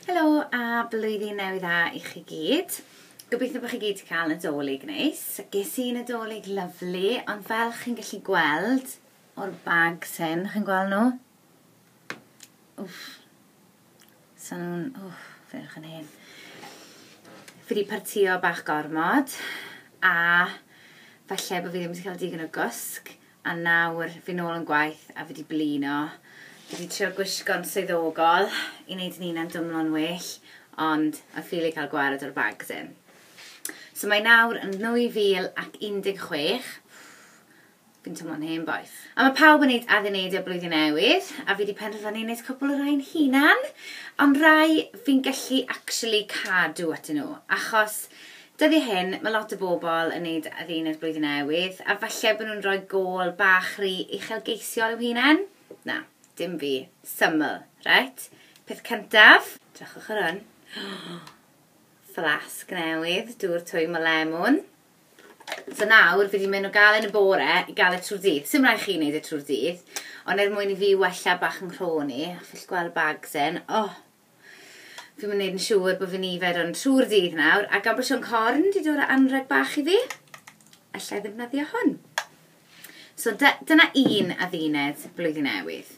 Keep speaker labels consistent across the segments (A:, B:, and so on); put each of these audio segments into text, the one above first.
A: Helo a blwyddyn newydd dda i chi gyd. Gobeithio bod chi gyd wedi cael nadolig neis. Ges i nadolig lyflu, ond fel chi'n gallu gweld o'r bag sen, chi'n gweld nhw? Wff, Sa'n nhw'n... O, ferch yn hen. Fi wedi partio bach gormod, a falle bod fi ddim wedi cael digon o gwsg, a nawr fi nôl yn gwaith a fi wedi blino. Fi wedi trio gwisgo'n swyddogol i wneud yn hunan dymlo'n well, ond I ffili cael gwared o'r bags in. So mae nawr yn 2016, Fi'n teimlo'n hen bois. A mae pawb yn neud adduneidiau Blwyddyn Newydd, a fi 'di penderfynu neud cwpl o rai'n hunan, ond rai fi'n gallu actually cadw atyn nhw, achos dyddiau hyn mae lot o bobl yn neud adduned Blwyddyn Newydd, a falle bod nhw'n rhoi gôl bach rhy uchelgeisiol i'w hunain. Na, dim fi. Syml. Reit, peth cyntaf, drychwch ar hwn. Fflasg newydd, dŵr twym o lemwn. So nawr fi 'di mynd o galed yn y bore i galed trwy'r dydd. Sim rhaid chi wneud e trwy'r dydd, ond er mwyn i fi wella bach yn nghrôn i, a chi'n gweld bags yn, oh, fi'n mynd wneud yn siŵr bod fi'n yfed hwn trwy'r dydd nawr, a gan bod Siôn Corn wedi dod â anreg bach i fi, allai ddefnyddio hwn. So dyna un adduned blwyddyn newydd,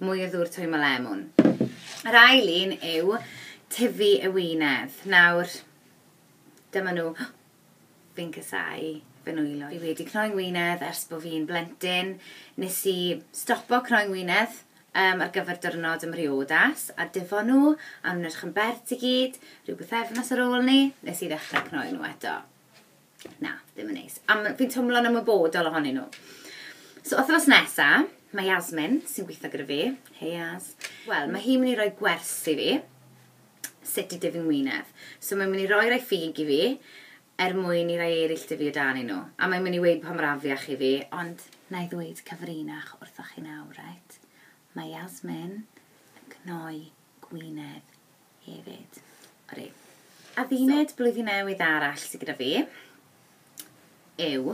A: mwy o ddŵr twymo o lemwn. Yr ail un yw tyfu y wynedd. Nawr, Dyma nhw. Fi'n casau fy nwylo. Fi wedi cnoi ngwinedd ers bo fi'n blentyn. Nes i stopo cnoi ngwinedd yym ar gyfer diwrnod ym mhriodas a difo nhw a o'n nhw'n edrych yn bert i gyd. Rhyw bythefnos ar ôl 'ny nes i ddechrau cnoi nhw eto. Na, ddim yn neis. A m- fi'n twmlo'n ymwybodol ohonyn nhw. So wythnos nesa, mae Yasmin, sy'n gweithio gyda fi, hei Yas, wel, ma' hi'n mynd i roi gwers i fi. sut i dyfu ngwyneb. So mae'n mynd i roi rhai ffug i fi, er mwyn i rhai eraill dyfu o dan i nhw. A mae'n mynd i weud pa mor afiach i fi, ond na i ddweud cyfrinach wrthoch chi nawr, reit? Mae Yasmin yn cnoi gwyneb hefyd. Ori. Adduned so. blwyddyn newydd arall sydd gyda fi yw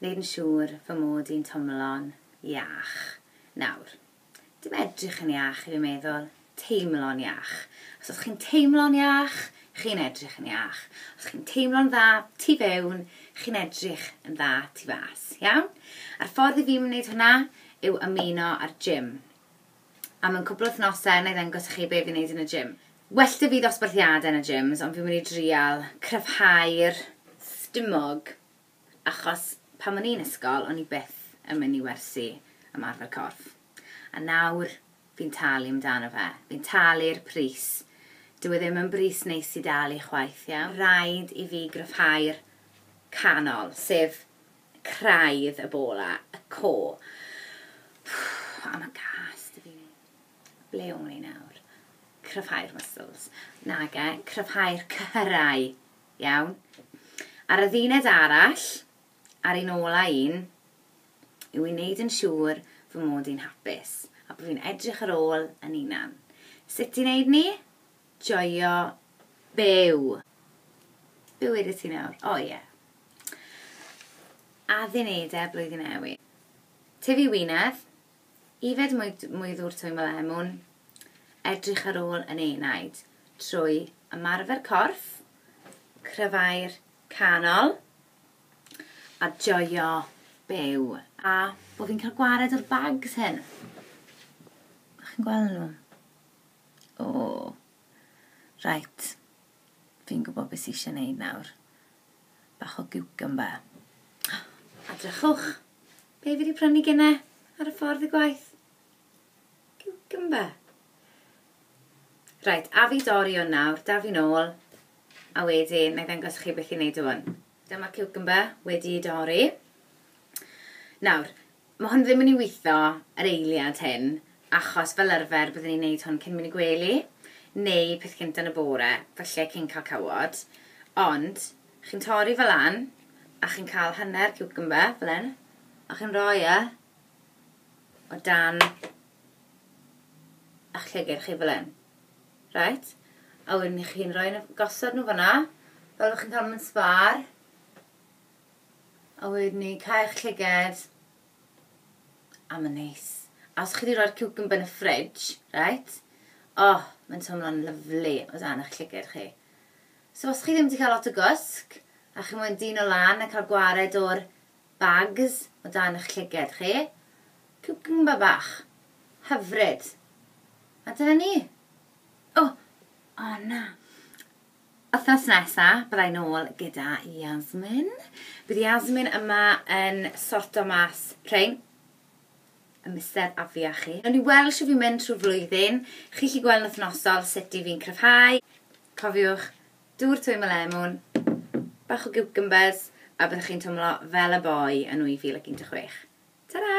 A: wneud yn siŵr fy mod i'n tomlon iach nawr. Dim edrych yn iach, dwi'n meddwl. Teimlo'n iach. Os ydych chi'n teimlo'n iach, chi'n edrych yn iach. Os chi'n teimlo'n dda tu fewn, chi'n edrych yn dda tu fas. Iawn? A'r ffordd i fi wneud hwnna yw ymuno â'r gym. A mewn cwbl o wythnosau, na i ddangos chi be fi'n neud yn y gym. Well da fi ddosbarthiadau yn y gyms, ond fi'n mynd i drial cryfhau'r stumog. Achos pan o'n i'n ysgol o'n i byth yn mynd i wersi ymarfer corff. A nawr fi'n talu amdano fe. Fi'n talu'r pris. Dyw e ddim yn bris neis i dalu chwaith, ie? Rhaid i fi gryfhau'r canol, sef craidd y bola, y co. A ma' gas 'da fi. Ble wn i nawr? Cryfhau'r muscles. Nage, cryfhau'r cyhyrau. Iawn. Ar y ddiwned arall, a'r un ola un, yw i wneud yn siŵr fy mod i'n hapus, a bo fi'n edrych ar ôl yn unan. Sut i wneud ni? Joio byw! Byw ydw ti nawr. O ie. Addunedau blwyddyn newydd. Tyfu wynedd. Yfed mwy mwy ddŵr Twym y lemwn, edrych ar ôl yn enaid trwy ymarfer corff, cryfau'r canol a joio byw. A bo fi'n cael gwared o'r bags hyn. Chi'n gweld nhw? O! Reit. Fi'n gwybod beth sy eisiau wneud nawr. Bach o giwcymba. A drychwch, be fi wedi prynu gyne ar y ffordd i gwaith? Giwcymba. Rhaid, a fi dori hwn nawr, da fi'n ôl, a wedyn na i ddangos chi beth i wneud hwn. Dyma ciwcymbyr wedi ei dorri. Nawr, mae hwn ddim yn ei witho yr eiliad hyn, achos fel arfer byddwn ni'n neud hwn cyn mynd i gwely, neu peth cynta yn y bore, falle cyn cael cawod. Ond, chi'n torri fe lan, a chi'n cael hanner ciwcymbyr, fel hyn, a chi'n rhoi e o dan ych llygid chi fel hyn. Reit, a wedyn i chi'n rhoi nhw, gosod nhw fanna, fel chi'n cael nhw yn sbar. A wedyn ni cael eich llyged. A mae'n neis. A os chi wedi rhoi'r cucumber yn y fridge, reit? Oh, mae'n teimlo'n lyflu o dan eich llyged chi. So os chi ddim wedi cael lot o gwsg, a chi moyn dyn o lan a cael gwared o'r Bags o dan y'ch llyged chi. Ciwcymbyr bach. Hyfryd. A dyna ni. O! O na. Wythnos nesa, byddai nôl gyda Yasmin. Bydd Yasmin yma yn sorto mas rhein y mister afi a chi. Newn ni weld shwt fi'n mynd trwy'r flwyddyn. Chi'n 'llu gweld yn wythnosol sut 'yf fi'n cryfhau. Cofiwch, dŵr twym o lemwn, bach o giwcymbers, a byddwch chi'n twmlo fel y boi yn 2016. Ta-ra!